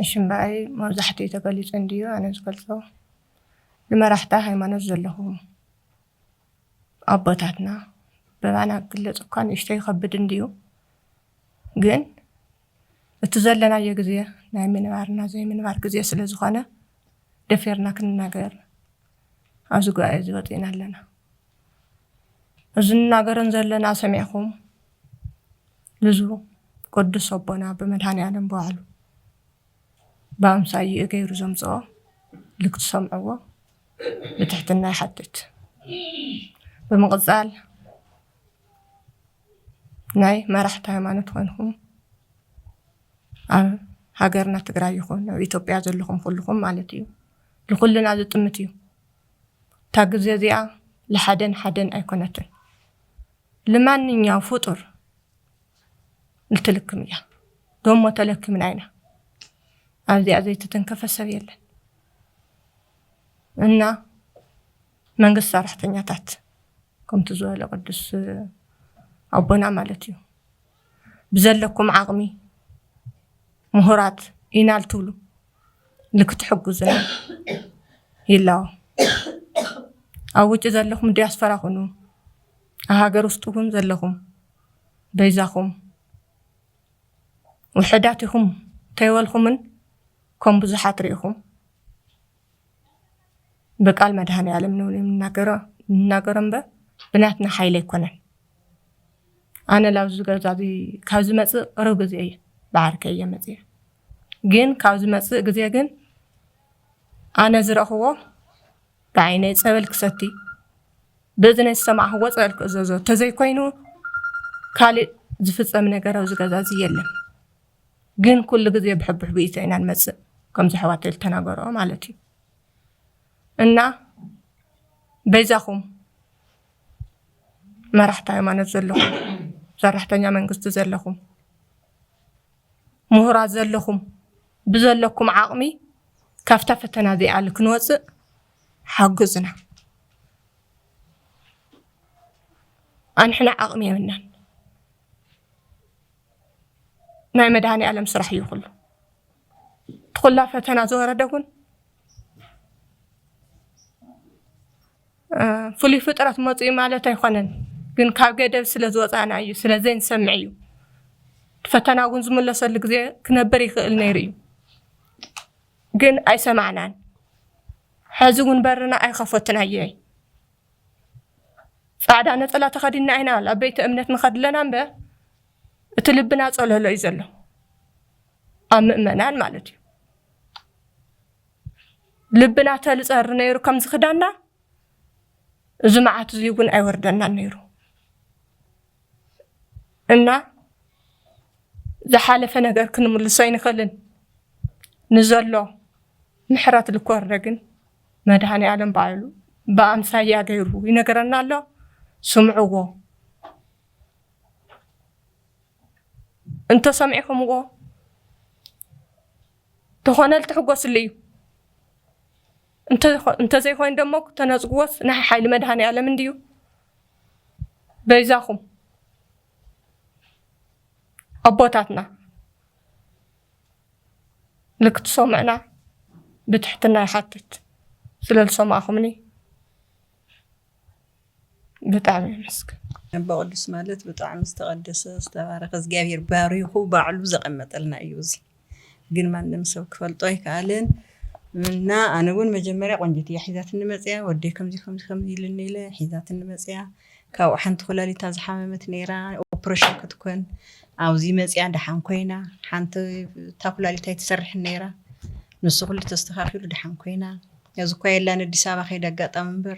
እሺ እምበኣይ መብዛሕትኡ ተገሊፁ እንድዩ ኣነ ዝገልፆ ንመራሕቲ ሃይማኖት ዘለኹም ኣቦታትና ብባና ክግለፅ እኳ ንእሽቶ ይኸብድ እንድዩ ግን እቲ ዘለናዮ ግዜ ናይ ምንባርና ዘይምንባር ግዜ ስለ ዝኾነ ደፊርና ክንናገር ኣብዚ ጉባኤ እዚ ወፂእና ኣለና። እዚ ንናገርን ዘለና ሰሚዕኹም ልዙ ቅዱስ ኣቦና ብመድሃኒኣለም በባዕሉ ብኣምሳይኡ ገይሩ ዘምፅኦ ልክትሰምዕዎ ብትሕትና ይሓትት። ብምቕፃል ናይ መራሕቲ ሃይማኖት ኮይንኩም ኣብ ሃገርና ትግራይ ይኹን ኣብ ኢትዮጵያ ዘለኹም ኩልኹም ማለት እዩ ልኹልና ዝጥምት እዩ። እታ ግዜ እዚኣ ልሓደን ሓደን ኣይኮነትን። ልማንኛው ፍጡር ልትልክም እያ። ዶሞ ተለክምና ኢና። ኣብዚኣ ዘይተተንከፈ ሰብ የለን። እና መንግስት ሰራሕተኛታት ከምቲ ዝበለ ቅዱስ ኣቦና ማለት እዩ ብዘለኩም ዓቕሚ ምሁራት ኢና ልትብሉ ልክትሕግዙና ይላቦ። ኣብ ውጪ ዘለኹም ዲያስፖራ ኩኑ፣ ኣብ ሃገር ውስጥ እውን ዘለኹም በይዛኹም ውሕዳት ኢኹም ተይበልኹምን ከም ብዙሓት ርኢኹም ብቃል መድሃኔ ዓለም ንናገሮ እምበር ብናትና ሓይሊ ኣይኮነን። ኣነ ላብዚ ገዛ እዚ ካብ ዝመፅእ ቅርብ ግዜ እየ ብዓርከ እየ መፅየ ግን ካብ ዝመፅእ ግዜ ግን ኣነ ዝረእክዎ ብዓይነይ ፀበል ክሰቲ ብእዝነይ ዝሰማዕክዎ ፀበል ክእዘዞ ተዘይኮይኑ ካሊእ ዝፍፀም ነገር ኣብዚ ገዛ እዚ የለን ግን ኩሉ ግዜ ብሕብሕቢኢቶ ኢና ንመፅእ ከምዚ ኣሕዋተይ ዝተናገረኦ ማለት እዩ እና በይዛኩም መራሕቲ ሃይማኖት ዘለኹም፣ ሰራሕተኛ መንግስቲ ዘለኹም፣ ምሁራት ዘለኹም ብዘለኩም ዓቕሚ ካብታ ፈተና እዚኣ ክንወፅእ ሓግዙና። ኣንሕና ዓቕሚ የብልናን። ናይ መድሃኒ ዓለም ስራሕ እዩ ኩሉ ትኩላ ፈተና ዝወረደ እውን ፍሉይ ፍጥረት መጹ እዩ ማለት ኣይኮነን፣ ግን ካብ ገደብ ስለ ዝወጻእና እዩ፣ ስለ ዘይንሰምዕ እዩ። ፈተና እውን ዝምለሰሉ ግዜ ክነብር ይኽእል ነይሩ እዩ፣ ግን ኣይሰማዕናን። ሕዚ እውን በርና ኣይኸፈቱን ኣየይ ጻዕዳ ነጸላ ተኸዲና ኢና ኣብ ቤተ እምነት ንኸድ ኣለና እምበ እቲ ልብና ጸለሎ እዩ ዘሎ ኣብ ምእመናን ማለት እዩ ልብና ተልጸር ነይሩ ከምዚ ክዳና እዚ መዓት እዚ እውን ኣይወርደናን ነይሩ እና ዝሓለፈ ነገር ክንምልሶ ኣይንኽእልን ንዘሎ ምሕረት ልኮርደ ግን መድሃኒ ኣለም ባዕሉ ብኣምሳያ ገይሩ ይነገረና ኣሎ ስምዕዎ እንተሰሚዕኹምዎ ተኾነል ትሕጎስሉ እዩ እንተዘይኮይኑ ደሞ ተነጽግዎስ ናይ ሓይሊ መድሃኒኣለም እንድዩ በይዛኹም ኣቦታትና ልክትሰምዑና ብትሕትና ይሓትት ስለዝሰማዕኹምኒ ብጣዕሚ የመስግን። ኣቦ ቅዱስ ማለት ብጣዕሚ ዝተቀደሰ ዝተባረከ እግዚኣብሔር ባሪኩ ባዕሉ ዘቀመጠልና እዩ እዚ ግን ማንም ሰብ ክፈልጦ ኣይከኣለን እና ኣነ እውን መጀመርያ ቆንጂት እያ ሒዛትኒ መፅያ ወደይ ከምዚ ከምዚ ከምዚ ኢሉኒ ኢለ ሒዛትኒ መፅያ ካብኡ ሓንቲ ኩላሊታ ዝሓመመት ነይራ ኦፕሬሽን ክትኮን ኣብዚ መፅያ ደሓን ኮይና ሓንቲ እታ ኩላሊታ ኣይትሰርሕን ነይራ ንሱ ኩሉ ተስተካኪሉ ደሓን ኮይና እዚ እኳ የላን ኣዲስ ኣበባ ከይደ ኣጋጣሚ እምበር